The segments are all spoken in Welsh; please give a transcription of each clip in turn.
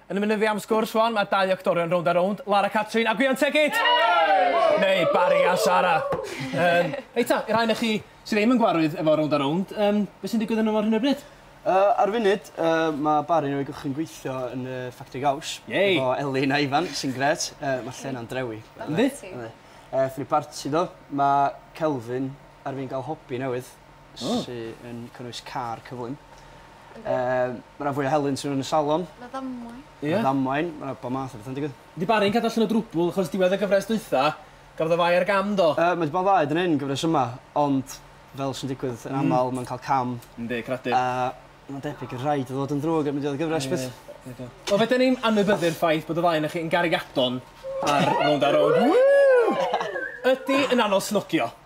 Yn munud fi am sgwrs rwan, mae dau actorion rownd a rownd, Lara Catrin a Gwion Tegid! Neu Barry a Sara. Um, reit ta, i'r rhai na chi sydd ddim yn gwarwydd efo rownd a rownd, um, beth sy'n digwydd yn ymwneud hyn o bryd? Uh, ar funud, uh, mae Barry yn o'i gychwyn gweithio yn y ffactri gaws. Yay! Efo Elin a Ifan, sy'n gret. Uh, mae lle na'n drewi. Ynddi? Ynddi. Uh, Fri Barty do, mae Kelvin ar fi'n gael hobi newydd. oh. sydd yn cynnwys car cyflym. Um, mae yna fwy o helynt sydd yn y salon. Mae ddamwain. Ie. Mae ddamwain, mae yna bod math o bethau'n digwydd. Di Barry'n cadw allan o drwbl, achos diwedd y gyfres dwytha, gafodd y fai ar gam do? Uh, mae wedi bod ddaed yn un gyfres yma, ond fel sy'n digwydd yn mm. aml, mm. mae'n cael cam. Ynddi, cradur. Uh, mae'n debyg yn rhaid o ddod yn ddrwg yn mynd i ddod gyfres beth. O, fe dyn ni'n anwybyddu'r ffaith bod y fai na chi'n gariadon ar rownd ar rownd. Ydy yn anol snogio.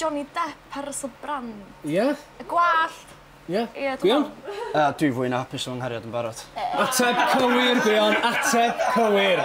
Johnny Depp a Russell Brand. Ie? Y gwallt! Ie. Ie dwi me'wl. Gwion? Na dwi fwy na hapus efo nghariad yn barod. Ateb cywir Gwion, ateb cywir!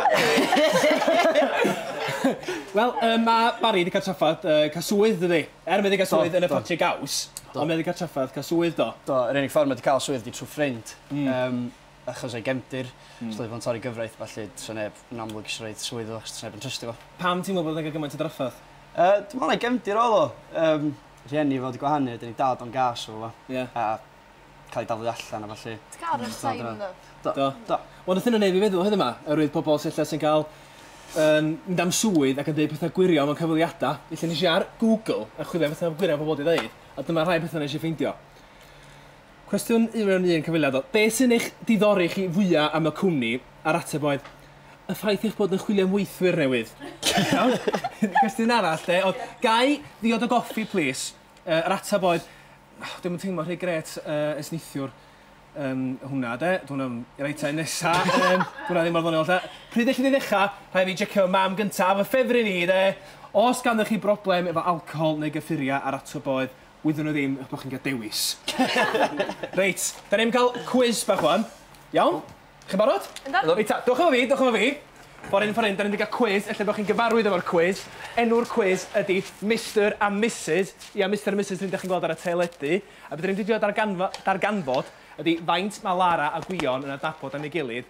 Wel yym ma' Barry 'di ca'l traffarth yy ca'l swydd dydi? Er mae 'di ca'l swydd yn y ffatri gaws ond mae 'di ca'l traffarth ca'l swydd do? Do yr unig ffor ma' 'di ca'l swydd 'di trw ffrind. Hmm. Yym. achos o'i gefndir, os na fydd o'n torri gyfraith felly tasa neb yn amlwg isio rhoid swydd iddo fo achos tasa neb yn trystio fo. Pam ti'n meddwl bod o'n cael gymaint o drafferth? Yy dwi'n meddwl o'i gefndir oedd o. Yym rhieni fo 'di gwahanu a 'dyn ei dad o'n gas efo fo. Ie. A cael ei daflu allan a ballu. Ti ca'l run sign yn y... Do. Do. Do. Wel nath hynna neud fi feddwl heddiw 'ma oerwydd pobol sy ella sy'n ca'l yym mynd am swydd ac yn deud petha gwirion mewn cyfweliada. Felly nesh i ar Google a chwilio am betha gwirion pobol 'di ddeud a dyma rhai petha nesh i ffeindio. Cwestiwn un mewn un cyfweliad oedd, Be sy'n eich diddori chi fwya am y cwmni? A'r ateb oedd, Y ffaith eich bod yn chwilio am weithwyr newydd. Iawn? Cwestiwn arall de oedd, Ga i ddiod o goffi plis? Yy yr ateb oedd, Dwi ddim yn teimlo rhy grêt yy ers neithiwr. Yym hwnna de, dw i'n iawn. Reit te, nesa yym dw inna ddim mor ddoniol ta. Pryd ellith i ddechra? Rhaid fi jecio fy mam gynta a fy ffefryn i de! O's ganddoch chi broblem efo alcohol neu gyffuria? A'r ateb oedd, Wyddwn nhw ddim eich bod chi'n cael dewis. Reit, da ni'n cael cwis bach wan. Iawn? Chi'n barod? Yndw. Reit ta, dewch efo fi, dewch efo fi. Ffordd hyn, ffordd hyn, da ni'n mynd i gael cwis, ella bod chi'n gyfarwydd efo'r cwis. Enw'r cwis ydy Mister a Misus. Ia, Mister a Misus, yr un dach chi'n gweld ar y teledu. A be da ni'n mynd i drio darganfod ydy faint mae Lara a Gwion yn adnabod am ei gilydd.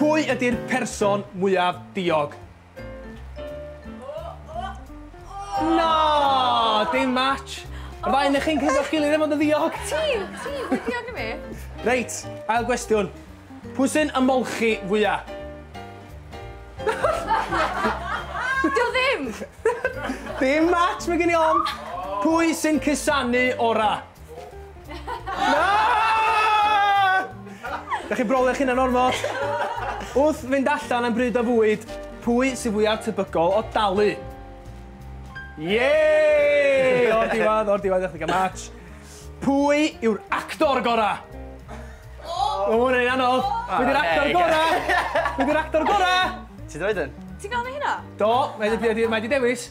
Pwy ydi'r person mwyaf diog? Na! Dim match! Yr ddau onoch chi'n cytuno'ch gilydd am fod yn ddiog? Ti! Ti! Ti'n ddiog na fi! Reit, ail gwestiwn. Pwy sy'n ymolchi fwya? Dio ddim! Dim match, mae gen i ofn! Pwy sy'n cusanu ora? Dach chi'n brolio eich hunan ormod. Wrth fynd allan am bryd o fwyd, pwy sydd fwyaf tebygol o dalu? Yay! O'r diwedd, o'r diwedd, ddechrau gael match. Pwy yw'r actor gorau? Oh! Mae hwnna'n anodd. Pwy yw'r actor gorau? Pwy yw'r actor gorau? Ti dweud yn? Ti'n gael ni hynna? Do, mae wedi dewis.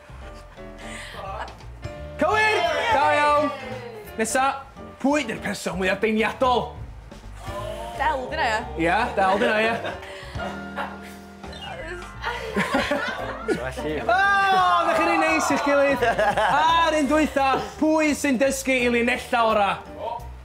Cywir! Da iawn! Nesa, pwy ydy'r person mwyaf deimliadol? Del, dyna ia? Ia, Del, dyna ia. Felly... O, na chi'n ei neis i'ch gilydd. A'r un dwytha, pwy sy'n dysgu i linella ora?